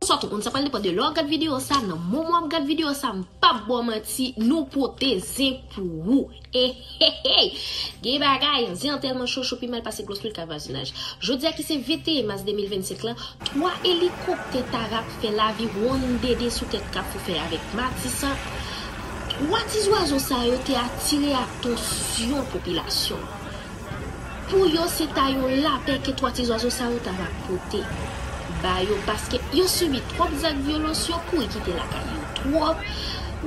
Sot ou konn sa pral depan de lè w gad video sa nan moman wap gad video sa m pap baw manti nou pote zen pou ou ehehey gen bagay zen an tèlman cho cho pi mal pase glos lwil ka vwazinaj jodi a ki se 21 mas 2025 lan 3 elikoptè tarap fè lavi wonn dede sou tèt kafou fè avèk matisan 3 ti zwazo sa yo te atire atansyon popilasyon an Pou yo se ta yon lapè ke 3 ti zwazo sa yo ta va pote ba yo paske yo sibi twòp zak vyolans yo kouri kite lakay yo twòp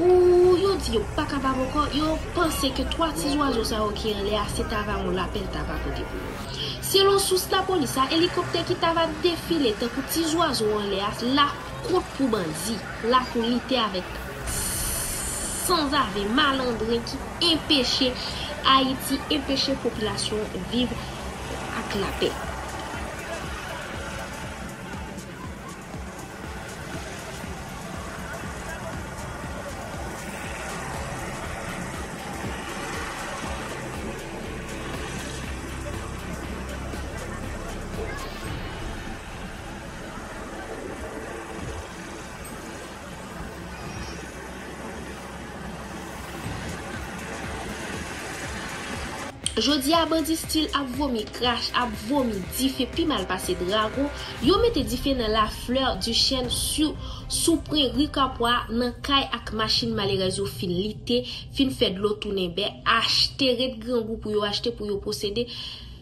ooh yo di yo pa kapab ankò yo panse ke 3 ti zwazo sa yo ki anlè a se ta va yon lapè l ta va pote pou yo selon sous lapolis a elikoptè ki ta va defile tankou ti zwazo anlè a la kont pou bandi la pou lite avèk sanzave, malandren ki enpeche Ayiti, enpeche popilasyon viv ak lapè. Jodia bandi stil ap vomi krach ap vomi dife pi mal pase drago, yo mete dife nan la fleur du chèn su sou pwen ri kapwa nan kay ak machin malerèz yo fin lite, fin fè dlo tounen bè, achte ret grangou pou yo achte pou yo posede,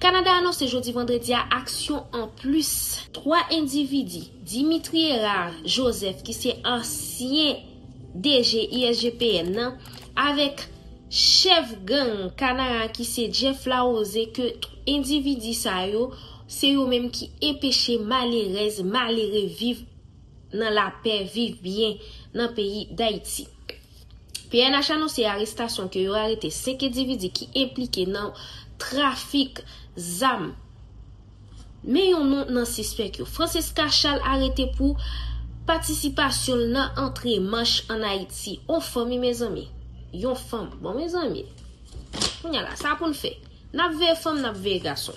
Kanada anonse jodi vandredi a aksyon anplis. 3 endividi, Dimitri Herard Joseph ki se ansyen DG ISGPN nan avèk chèf gang Kanaan ki se Jeff Larose ke endividi sa yo se yo menm ki enpeche malerèz malere viv nan lapè, viv byen nan peyi Dayiti. pnh anonse arestasyon ke yo arete 5 endividi ki enplike nan trafik zam. Men yon non nan sispèk yo. Francesca Charles arete pou Patisipasyon l nan antre manch an Ayiti. On fanm wi mezanmi. Yon fanm. Bon mezanmi. Kounya la sa pou n fè? Nap veye fanm nap veye gason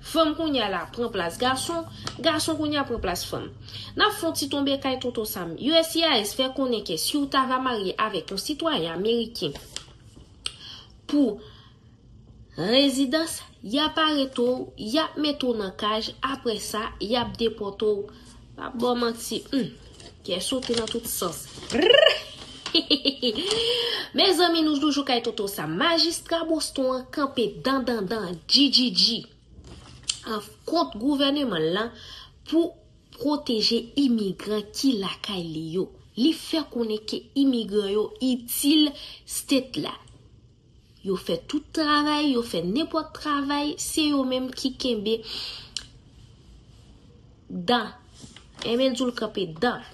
Fanm kounya la pran plas gason Gason kounya pran plas fanm Nap fon ti tonbe kay tonton sam uscis fè konnen ke siw ta va marye avèk yon sitwayen ameriken pou rezidans yap arete w yap mete w nan kaj aprè sa yap depòte w Pap baw manti humm kè sote nan tout sans rrrhihihihih Mezanmi nou toujou kay Toto Sam majistra Boston an kanpe dandandan djidjidji an kont gouvèneman l lan pou pwoteje imigran ki lakay li yo li fè konnen ke imigran yo itil state la. Yo fè tout travay, yo fè nenpòt travay, se yo menm ki kenbe dan. Enben di w l kanpe dan.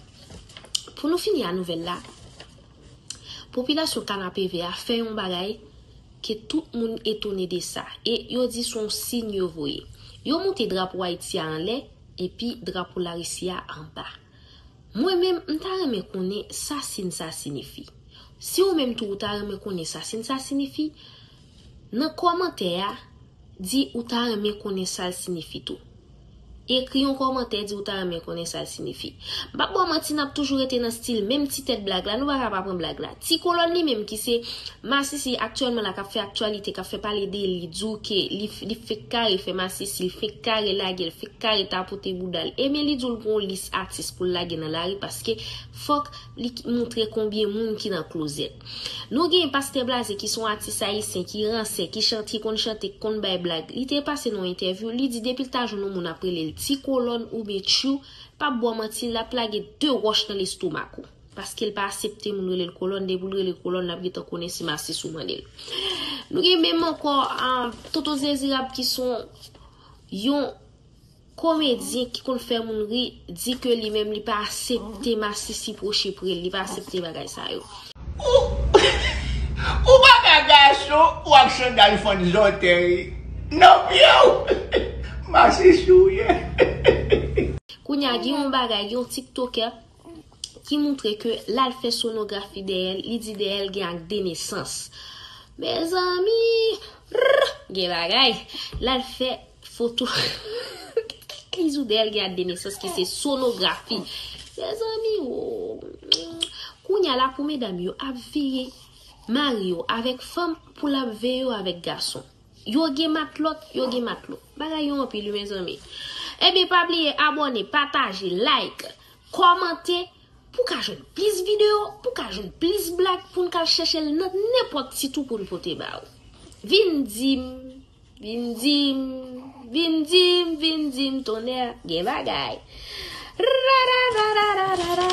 Pou nou fini a nouvèl la, popilasyon Kanapevè a fè yon bagay ke tout moun etone de sa e yo di se yon siy yo voye. Yo moute drapo Ayiti a anlè epi drapo Larisi a anba. Mwen menm m ta renmen konnen sa sin sa sinifi. Si ou menm tou ou ta renmen konnen sa sin sa sinifi, nan kòmantè a, di ou ta renmen konnen sa l sinifi tou. Ekri yon kòmantè di ou ta renmen konnen sa l sinifi. M pap ba w manti n ap toujou rete nan stil menm ti tèt blag la, nou pa ka pa pran blag la. Ti kolòn li menm ki se masisi aktyèlman la kap fè aktyalite kap fè pale de li di w ke li fek kare fè masisi li fek kare lage l fek kare tapote bouda l ebyen li di w li gen yon lis atis pou l lage nan lari paske fòk li moutre konbyen moun ki nan klozèt nou gen pastè blaze ki se yon atis ayisyen ki ransè ki chante ki konn chante ki konn bay blag li te pase nan yon entèvyou li di depi l ta jwenn yon moun ap rele l ti kolòn oubyen tchou pap bò manti lap lage 2 wòch nan lestomak ou. Paske l pa asepte moun rele l kolòn, depi l rele kolòn l ap gentan konnen si masis ou mande l. Nou gen menm ankò Tonton Zezirab ki s on yon komedyen ki konn fè moun ri, di ke li menm li pa asepte masisi pwoche pre l, li pa asepte bagay sa yo. Ou pa ka gason ou ak sandal fann zòtèy nan pye w, masisi w ye. Kounya gen yon bagay, gen yon tiktokè ki moutre ke lal fè sonografi dèyè l li di dèyè l gen ak denesans mezanmi rrr gen bagay lal fè foto li di w dèyè l gen ak denesans ki se sonografi mezanmi ooh kounya la pou medam yo ap veye mari yo avèk fanm pou lap veye yo avèk gason. Yo gen matlot, yo gen matlo. Bagay yo anpil wi mezanmi. Ebyen pa bliye abone, pataje, like, komante pou ka jwenn plis video, pou ka jwenn plis blag poun ka al chèchel nan nenpot sit ou poun pote ba ou. Vin dim, vin dim, vin dim, vin dim tonner gen bagay. Rarararararara.